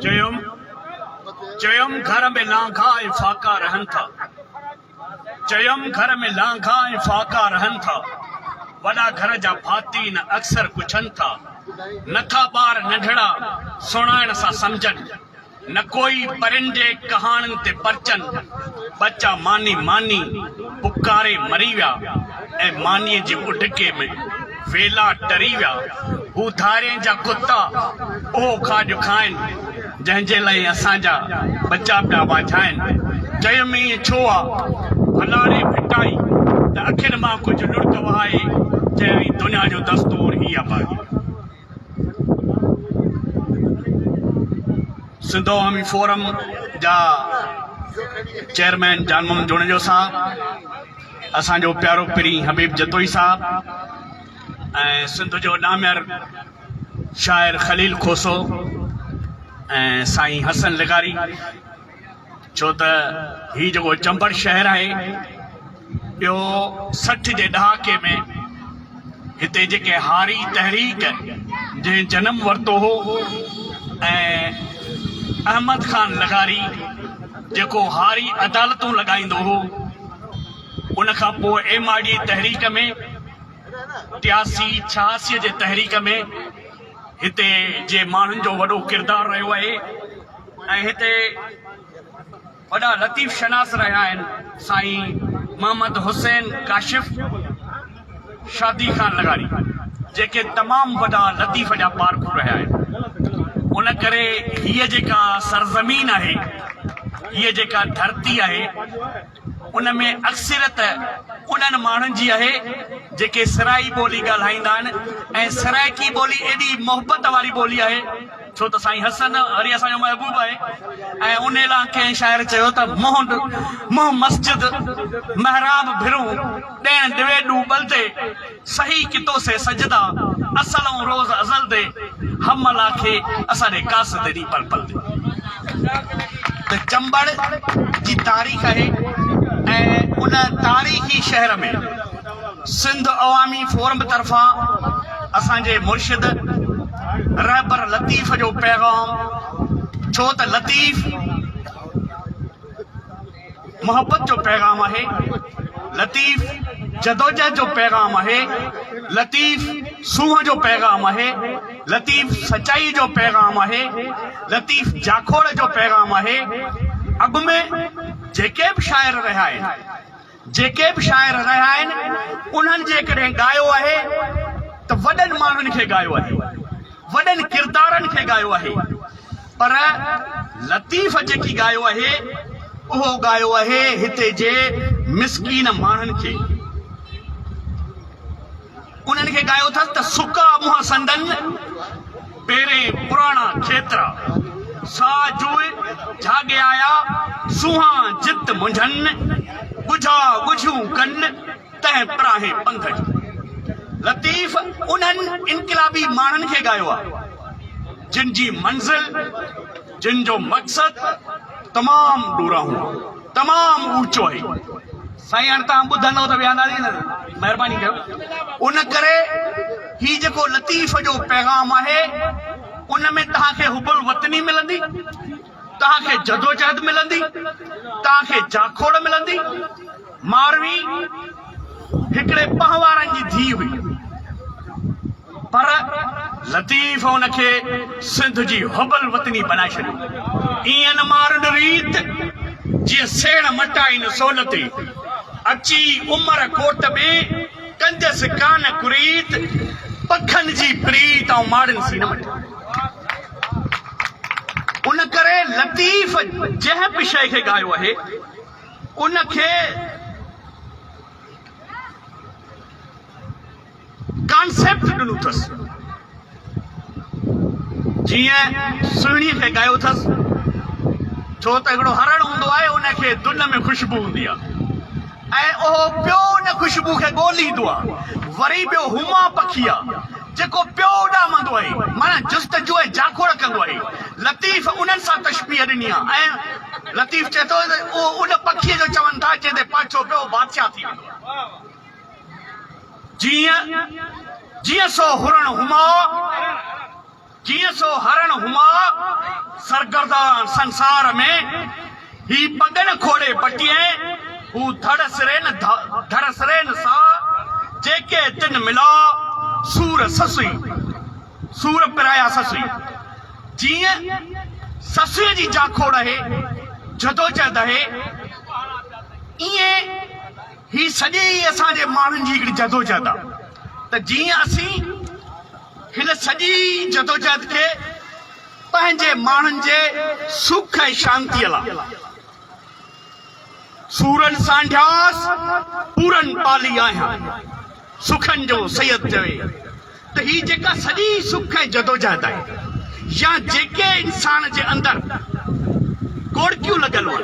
چيم، چيم گهر ۾ لانگها ۽ فاقا رهن ٿا، چيم گهر ۾ لانگها ۽ فاقا رهن ٿا، وڏا گهر جا ڀاتين اڪثر پڇن ٿا، نٿا ٻار ننڍڙا سڻائڻ سان سمجهن. نه ڪوئي پرنڊي ڪهاڻن تي پرچن، ٻچا ماني ماني پڪاري مري ويا ۽ مانيء جي اڍڪي ۾ ويلا ٽري ويا. هو ڌارين جا ڪتا اهو کاڄ کائن، جنهن جي لاء اسان جا ٻچا پيا واجهائن. چيم ائين ڇو آ؟ ڀلاڙي ڦٽائي ته اکين مان ڪجهه لڙڪ وهائي چيائين دنيا جو دستور هي آ ڀائي! سنڌو عوامي فورم جا چيئرمين جان محمد جوڻيجو صاحب اسان جو پيارو پرين حبيب جتوئي صاحب ۽ سنڌ جو نامير شاعر خليل کوسو ۽ سائين حسن لغاري ڇو ته هي جيڪو چمبڙ شهر آهي اهو سٺ جي ڏهاڪي ۾ هتي جيڪي هاري تحريڪ جنهن جنم ورتو هو ۽ احمد خان لغاري جيڪو هاري عدالتون لڳائيندو هو ان کان پوء ايم آر ڊي تحريڪ ۾ ٽياسي ڇهاسي جي تحريڪ ۾ هتي جي ماڻهن جو وڏو ڪردار رهيو آهي ۽ هتي وڏا لطيف شناس رهيا آهن سائين محمد حسين ڪاشف شادي خان لغاري جيڪي تمام وڏا لطيف جا پارکو رهيا آهن ان ڪري هيء جيڪا سرزمين آهي هيء جيڪا ڌرتي آهي ان ۾ اڪثريت انهن ماڻهن جي آهي جيڪي سرائي ٻولي ڳالهائيندا آهن ۽ سرائيڪي ٻولي ايڏي محبت واري ٻولي آهي ڇو ته سائين حسن هري اسان جو محبوب آهي ۽ ان لاء ڪنهن شاعر چيو ته منهن منهن مسجد محراب ڀرون ڏيڻ ڊويڊو ٻلتي صحيح ڪتو سي سجدا اصل ائون روز ازل دي هم الله کي اسان ڏي قاصد دي ڏي پل پل دي ته چمبڙ جي تاريخ آهي ۽ ان تاريخي شهر ۾ سنڌ عوامي فورم طرفان اسان جي مرشد رهبر لطيف جو پيغام ڇو ته لطيف محبت جو پيغام آهي لطيف جدوجهد جو پيغام آهي لطيف سونهن جو پيغام آهي لطيف سچائي جو پيغام آهي لطيف جاکوڙ جو پيغام آهي اڳ ۾ جيڪي به شاعر رهيا آهن جيڪي به شاعر رهيا آهن انهن جيڪڏهن ڳايو آهي ته وڏن ماڻهن کي ڳايو آهي وڏن ڪردارن کي ڳايو آهي پر لطيف جيڪي ڳايو اهي اهو ڳايو اهي هتي جي مسڪين ماڻهن کي انهن کي ڳايو اٿس ته سڪا منهن سندن پيرين پراڻا کيترا سا جو جهاڳي آيا سونهان جت منجهن ڳجها ڳجهيون ڪن تنهن پراهي پنڌ جو لطيف انهن انقلابي ماڻهن کي ڳايو آهي جن جي منزل جن جو مقصد تمام ڏورانهون تمام اوچو آهي سائين هاڻي تان ٻڌندو ته ويهنداسي نه مهرباني ڪيو ان ڪري هي جيڪو لطيف جو پيغام آهي ان ۾ تان کي حب الوطني ملندي تان کي جدوجهد ملندي تان کي جاکوڙ ملندي ماروي هڪڙي پنهوارن جي ڌيء هئي، پر لطيف ان کي سنڌ جي حب الوطني بنائي ڇڏيو. ايئن نه مارن ريت، جيئن سيڻ مٽائين سول تي، اچي عمر ڪوٽ ۾، ڪنديس ڪان ڪريت، پکن جي پريت آئون ماڙن سين مٽي. ان ڪري لطيف جنهن به شيء کي ڳايو آهي. ان کي ڪانسيپٽ ڏنو اٿس. جيئن سهڻي کي ڳايو اٿس، ڇو ته هڪڙو هرڻ هوندو آهي، ان کي دن ۾ خوشبو هوندي آهي ۽ اهو پيو ان خوشبو کي ڳوليندو آهي. وري ٻيو هوما پکي آهي. جيڪو پيو اڏامندو آهي، معنيٰ جستجو ۽ جاکوڙ ڪندو آهي. لطيف انهن سان تشبيهه ڏني آهي ۽ لطيف چئي ٿو ته اهو ان پکيء جو چون ٿا جنهن تي پهچو پيو بادشاهه ٿي ويندو جيئن جيئن سو هرڻ هما جيئن سو هرڻ هما سرگردان سنسار ۾. هي پڳڻ کوڙي پٽيين، هو ڌڙ سرين ڌڙ سرين سا، جيڪي تن ملا، سور سسئي سور پرايا سسئي. جيئن سسئي جي جاکوڙ اهي، جدوجهد اهي، ايئن هي سڄي ئي اسان جي ماڻهن جي هڪڙي جدوجهد آ ته جيئن اسين هن سڄي جدوجهد کي پنهنجي ماڻهن جي سک ۽ شانتيء لاء سورن سانڍياس پورن پالي آهيان. سخن جو سيد چوي ته هي جيڪا سڄي سک ۽ جدوجهد آهي يا جيڪي انسان جي اندر ڪوڙڪيون لڳل هئن،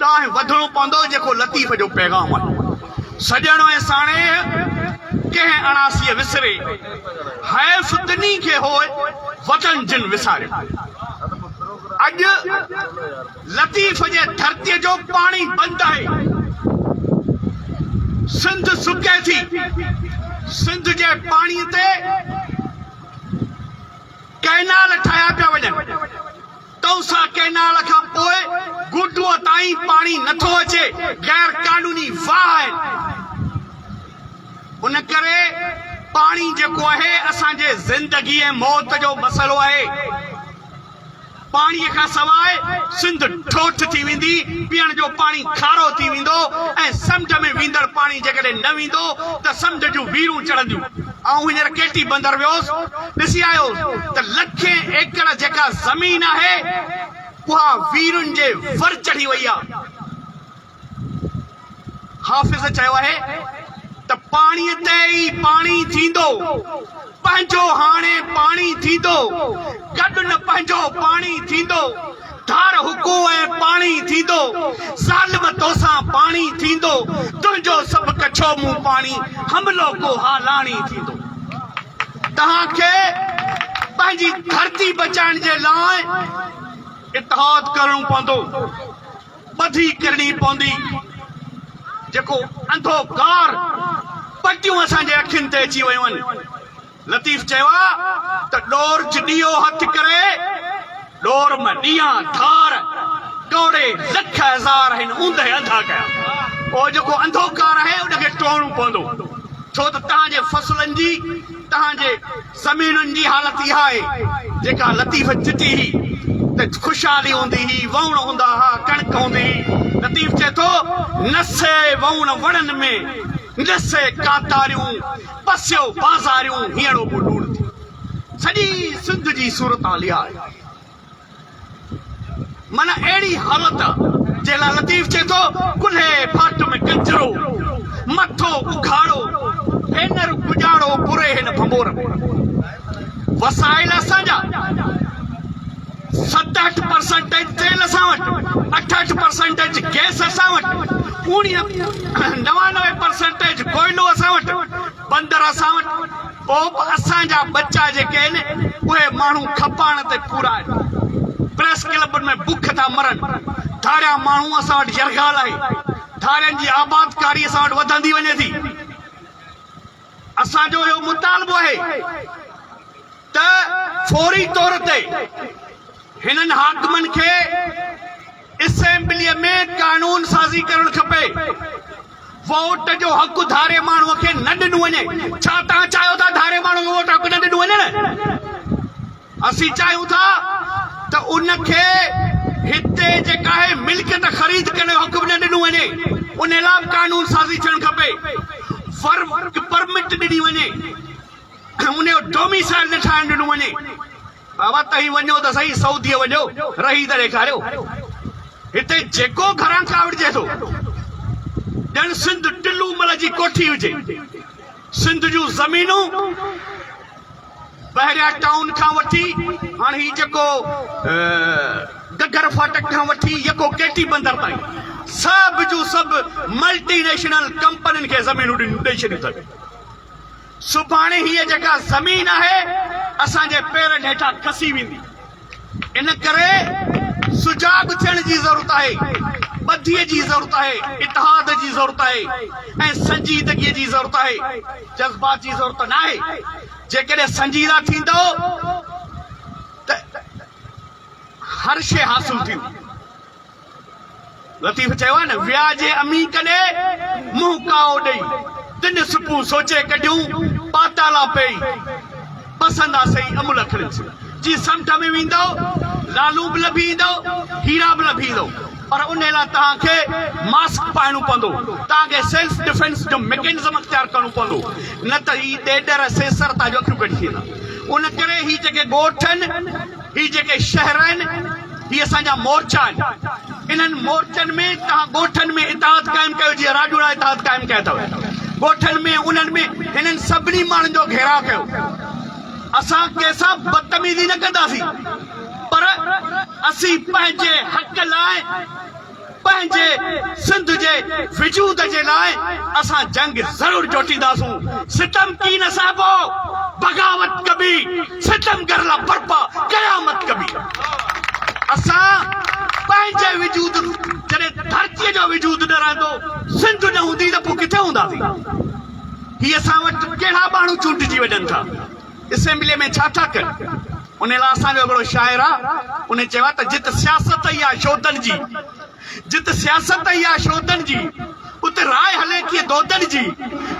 ڏانهن وڌڻو پوندو جيڪو لطيف جو پيغام آهي سڄڻ ۽ ساڻيهه ڪنهن اڻاسي وسري حيف تنهي کي هوء وطن جن وساريو اڄ لطيف جي ڌرتي جو پاڻي بند آهي سنڌ سڪي ٿي سنڌ جي پاڻي تي ڪئنال ٺاهيا پيا وڃن توسا ڪئنال کان پوء گوٽوء تائين پاڻي نٿو اچي، غير قانوني واهه آهن، ان ڪري پاڻي جيڪو آهي اسان جي زندگي ۽ موت جو مسئلو آهي، پاڻي کان سواء سنڌ ٺوٺ ٿي ويندي، پيئڻ جو پاڻي کارو ٿي ويندو ۽ سمنڊ ۾ ويندڙ پاڻي جيڪڏهن نه ويندو ته سمنڊ جون ويرون چڙهنديون. آئون هينئر ڪيٽي بندر ويوس، ڏسي آيو ته لکين ايڪڙ جيڪا زمين آهي، اها ويرن جي ور چڙهي وئي آ. حافظ چيو آهي ته پاڻيء تي ئي پاڻي ٿيندو، پنهنجو هاڻي پاڻي ٿيندو، گڏ نه پنهنجو پاڻي ٿيندو، ڌار هڪو ۽ پاڻي ٿيندو، ظالم توسان پاڻي ٿيندو، تنهنجو سڀ ڪڇو مون پاڻي، حملو ڪو ها لاڻي ٿيندو. توهان کي پنهنجي ڌرتي بچائڻ جي لاء اتحاد ڪرڻو پوندو، ٻڌي ڪرڻي پوندي، جيڪو انڌو ڪار پٽيون اسان جي اکين تي اچي ويون آهن، لطيف چيو آ ته ڏور چ ڏيئو هٿ ڪري، ڏور م ڏيئان ڌار، ٽوڙي لک هزار هن اوندهه انڌا ڪيا. پوء جيڪو انڌو ڪار آهي ان کي ٽوڙڻو پوندو، ڇو ته توهان جي فصلن جي، توهان جي زمينن جي حالت اها آهي، جيڪا لطيف چتي هئي ته خوشحالي هوندي هئي، وهوڻ هوندا ها، ڪڻڪ هوندي هئي. لطيف چئي ٿو، نه سي وهوڻ وڻن ۾، نه سي ڪاتاريون. پسيو بازاريون هيڻو به لوڻ ٿيون سڄي سنڌ جي صورتحال اها آهي من اهڙي حالت جنهن لاء لطيف چئي ٿو ڪلهي ڦاٽ ۾ ڪچرو مٿو اگهاڙو ڀينر ڪڄاڙو پوري هن ڀنڀور ۾ وسائل اسان جا ست اٺ پرسنٽيج تيل اسان وٽ، اٺ اٺ پرسنٽيج گئس اسان وٽ، اوڻيهه نوانوي پرسنٽيج ڪوئلو اسان وٽ، بندر اسان وٽ، پوء به اسان جا ٻچا جيڪي آهن اهي ماڻهو کپاڻ تي پورا آهن. پريس ڪلبن ۾ بک ٿا مرن. ڌاريا ماڻهو اسان وٽ يرغال آهي. ڌارين جي آبادڪاري اسان وٽ وڌندي وڃي ٿي. اسان جو اهو مطالبو آهي ته فوري طور تي هنن حاڪمن کي اسيمبليء ۾ قانون سازي ڪرڻ کپي. ووٽ جو حق ڌاري ماڻهو کي نه ڏنو وڃي. ڇا توهان چاهيو ٿا ڌاري ماڻهو کي ووٽ حق نه ڏنو وڃڻ؟ اسين چاهيون ٿا ته ان کي هتي جيڪا هي ملڪيت خريد ڪرڻ جو حق به نه ڏنو وڃي، ان لاء به قانون سازي ٿيڻ کپي، ورڪ پرمٽ ڏني وڃي، ان جو ڊوميسائل نه ٺاهڻ ڏنو وڃي. بابا تهين وڃو ته سهي سعوديء وڃو رهي ته ڏيکاريو، هتي جيڪو گهران ڪاوڙجي ٿو ڄڻ سنڌ ٽلو مل جي ڪوٺي هجي، سنڌ جون زمينون. بحريا ٽائون کان وٺي هاڻ هي جيڪو گگر ڦاٽڪ کان وٺي يڪو ڪي ٽي بندر تائين سڀ جون سڀ ملٽي نيشنل ڪمپنين کي زمينون ڏئي ڇڏيون اٿن سڀاڻي هيء جيڪا زمين آهي اسان جي پيرن هيٺان کسي ويندي ان ڪري سجاڳ ٿيڻ جي ضرورت آهي، ٻڌيء جي ضرورت آهي، اتحاد جي ضرورت آهي ۽ سنجيدگيء جي ضرورت آهي، جذبات جي ضرورت ناهي. جيڪڏهن سنجيده ٿيندؤ ته هر شيء حاصل ٿيندي. لطيف چيو آهي نه ويا جي امي ڪڏي منهن ڪائو ڏئي تن سپون سوچي ڪڍيون پاتالا پئي پسند آ سهي امل اکڙين سين جي سمنڊ ۾ ويندئو لالون به لڀي ايندئو هيرا به لڀي ايندئو پر انهي لاء توهان کي ماسڪ پائڻو پوندو توهان کي سيلف ڊفينس جو ميڪينزم اختيار ڪرڻو پوندو نه ته هي ڏيڏر سيسر توهان جون اکيون ڪڍي ڇڏيندا ان ڪري هي جيڪي ڳوٺن هي جيڪي شهر آهن، هي اسان جا مورچا آهن. انهن مورچن ۾ توهان ڳوٺن ۾ اتحاد قائم ڪيو، جيئن راڄوڙا اتحاد قائم ڪيا اٿئو. ڳوٺن ۾ انهن ۾ هنن سڀني ماڻهن جو گهيراء ڪيو. اسان ڪنهن سان بدتميزي نه ڪنداسين، پر اسين پنهنجي حق لاء، پنهنجي سنڌ جي وجود جي لاء اسان جنگ ضرور جوٽينداسون ستم ڪي نه سهبو بغاوت ڪبي ستمگر لا برپا قيامت ڪبي اسان پنهنجي وجود جڏهن ڌرتي جو وجود نه رهندو سنڌ نه هوندي ته پوء ڪٿي هونداسين هي اسان وٽ ڪهڙا ٻانهو چونڊجي وڃن ٿا اسيمبليء ۾ ڇا ٿا ڪن؟ ان لاء اسان جو هڪڙو شاعر آ، ان چيو آ ته جت سياست ئي آ شودن جي، جت سياست ئي آ شودن جي، ات راء هلي ٿي دودن جي،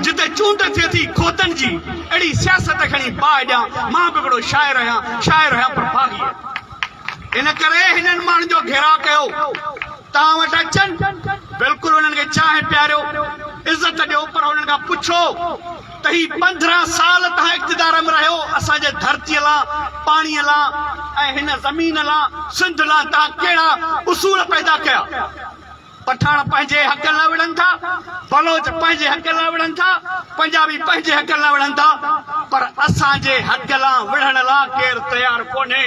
جتي چونڊ ٿئي ٿي خودن جي، اهڙي سياست کڻي باهه ڏيان، مان به هڪڙو شاعر آهيان، شاعر آهيان پر باغي آهيان. ان ڪري هنن ماڻهن جو گهيراء ڪيو، توهان وٽ اچن، بلڪل انهن کي چانهه پياريو، عزت ڏيو پر انهن کان پڇو، تهي پندرهن سال تهان اقتدار م رهيو اسان جي ڌرتي لا پاڻي لا ۽ هن زمين لا سنڌ لا تهان ڪهڙا اصول پيدا ڪيا پٺاڻ پنهنجي حق لا وڙهن ٿا بلوچ پنهنجي حق لا وڙهن ٿا پنجابي پنهنجي حق لا وڙهن ٿا پر اسان جي حق لا وڙهڻ لا ڪير تيار ڪونهي.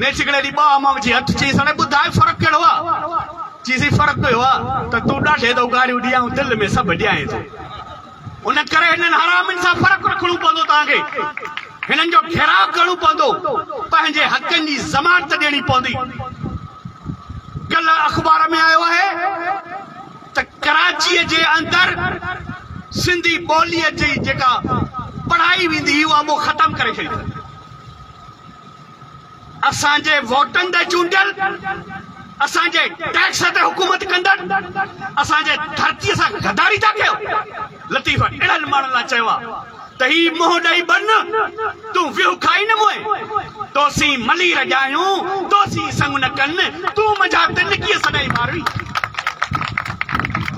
نيٺ هڪڙي ڏينهن ٻانهن مان وجهي هٿ چيس هاڻي ٻڌاء فرق ڪهڙو آ؟ چيسين فرق اهو آ ته تون ڏاڍي تون گاريون ڏي آئون دل ۾ سڀ ڏيانء ٿو. ان ڪري هنن حرامين سان فرق رکڻو پوندو توهان کي. هنن جو گهيراء ڪرڻو پوندو. پنهنجي حقن جي ضمانت ڏيڻي پوندي. ڪلهه اخبار ۾ آيو آهي ته ڪراچيء جي اندر سنڌي ٻوليء جي جيڪا پڙهائي ويندي هئي اها مون ختم ڪري ڇڏي اٿن. اسان جي ووٽن تي چونڊيل، اسان جي ٽيڪس تي حڪومت ڪندڙ اسان جي ڌرتي سان غداري ٿا ڪيو. لطيف اهڙن ماڻهن لاء چيو آهي ته هي منهن ڏئي بنهه تون ويهه کائي نه موئي. تو سين ملير ڄايون، تو سين سڱ نه ڪن. تون منهنجا تنڪيء سڏائي ماروي.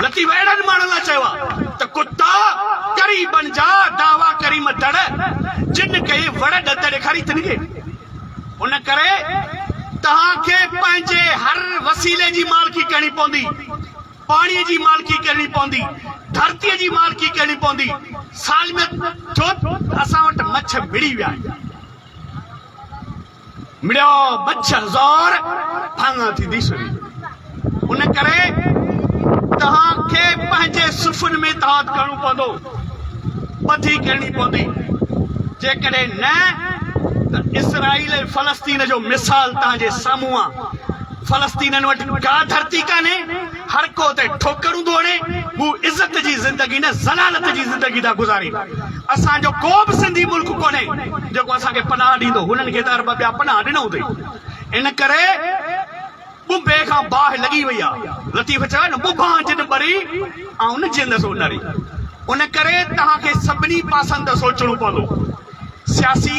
لطيف اهڙن ماڻهن لاء چيو آهي ته ڪتا ڪري بن جا دعويٰ ڪريم تڙ جن کي وڙ ڏت ڏيکاري تنڪي. ان ڪري توهان کي پنهنجي هر وسيلي جي مالڪي ڪرڻي پوندي. پاڻي جي مالڪي ڪرڻي پوندي، ڌرتي جي مالڪي ڪرڻي پوندي. سالميت ٿيو اسان وٽ مڇ مڙي ويا آهن. مڙيا بڇ هزار ڀاڱا ٿي ديسن. ان ڪري توهان کي پنهنجي صفن ۾ اتحاد ڪرڻو پوندو، ٻڌي ڪرڻي پوندي. جيڪڏهن نه ته اسرائيل ۽ فلسطين جو مثال توهان جي سامهون آ. فلسطينين وٽ ڪا ڌرتي ڪانهي. هر ڪو اتي ٺوڪرون ٿو هڻي، هو عزت جي زندگي نه ذلالت جي زندگي ٿا گذارين. اسان جو ڪو به سنڌي ملڪ ڪونهي جيڪو اسان کي پناهه ڏيندو، هنن کي ته ارب ٻيا پناهه ڏنو اٿئي. ان ڪري ٻٻي کان باهه لڳي وئي آهي. لطيف چيو آهي نه ٻٻاهه جن ٻري، آئون نه جيئندس او نري. ان ڪري توهان کي سڀني پاسن تان سوچڻو پوندو. سياسي.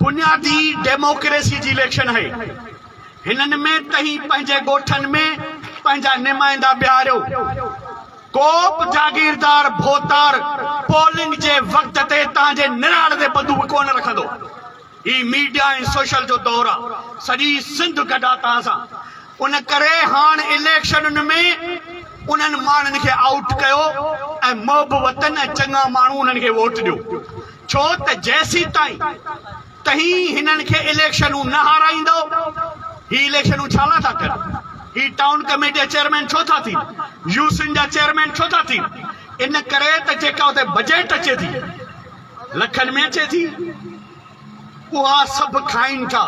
بنيادي ڊيموڪريسي جي اليڪشن آهي، هنن ۾ تهين پنهنجي ڳوٺن ۾ پنهنجا نمائندا بيهاريو، ڪو به جاگيردار ڀوتار پولنگ جي وقت تي توهان جي نراڙ تي بندوق ڪونه رکندو، هي ميڊيا ۽ سوشل جو دور آ، سڄي سنڌ گڏا توهان سان، ان ڪري هاڻ اليڪشنن ۾ انهن ماڻهن کي آئوٽ ڪيو ۽ محب وطن ۽ چڱا ماڻهو انهن کي ووٽ ڏيو. ڇو ته جيسيتائين تهين هنن کي اليڪشنون نه هارائيندؤ هي اليڪشنون ڇا لا ٿا ڪن هي ٽائون ڪميٽي جا چيئرمين ڇو ٿا ٿين يو سين جا چيئرمين ڇو ٿا ٿين ان ڪري ته جيڪا اتي بجيٽ اچي ٿي لکن ۾ اچي ٿي اها سڀ کائين ٿا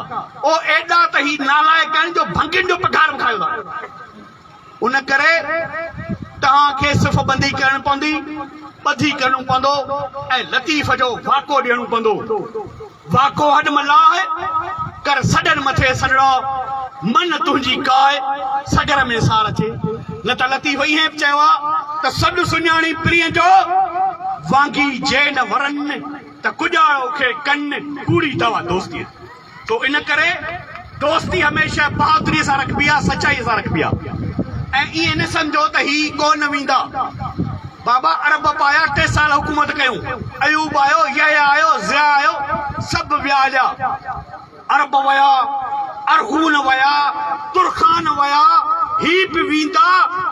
او ايڏا ته هي نالائق آهن جو ڀنگين جو پگهار به کائيو ٿا ان ڪري توهان کي صف بندي ڪرڻ پوندي، ٻڌي ڪرڻو پوندو ۽ لطيف جو واڪو ڏيڻو پوندو. واڪو هڏ م لاهه، ڪر سڏن مٿي سڏڙا، من تنهنجي ڪاهه، سڳر ۾ سار اچي. نه ته لطيف ائين به چيو آهي ته سڏ سڃاڻي پرينء جو، وانگي جي نه ورن، ته ڪڄاڙو کي ڪن، ڪوڙي دوا دوستيء. سو ان ڪري دوستي هميشه بهادريء سان رکبي آ سچائيء سان رکبي آ ۽ ائين نه سمجهو ته هي ڪو نه ويندا بابا عرب به آيا ٽي سال حڪومت ڪيون ايوب آيو يحيٰ آيو ضياء آيو سڀ ويا هليا عرب ويا ارغون ويا ترخان ويا، هي به ويندا،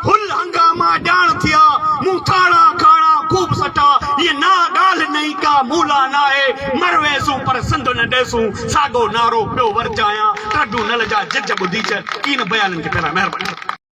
هل هنگاما ڄاڻ ٿيا، مون ٿاڻا کاڻا خوب سٽا، هيء نا ڳالهه نئين ڪا مون لا ناهي، مر ويسون پر سنڌ نه ڏيسون، ساڳو نعرو پيو ورجايان، ٽربيونل جا جج ٻڌيجن، ڪين بيانن کي پهران مهرباني.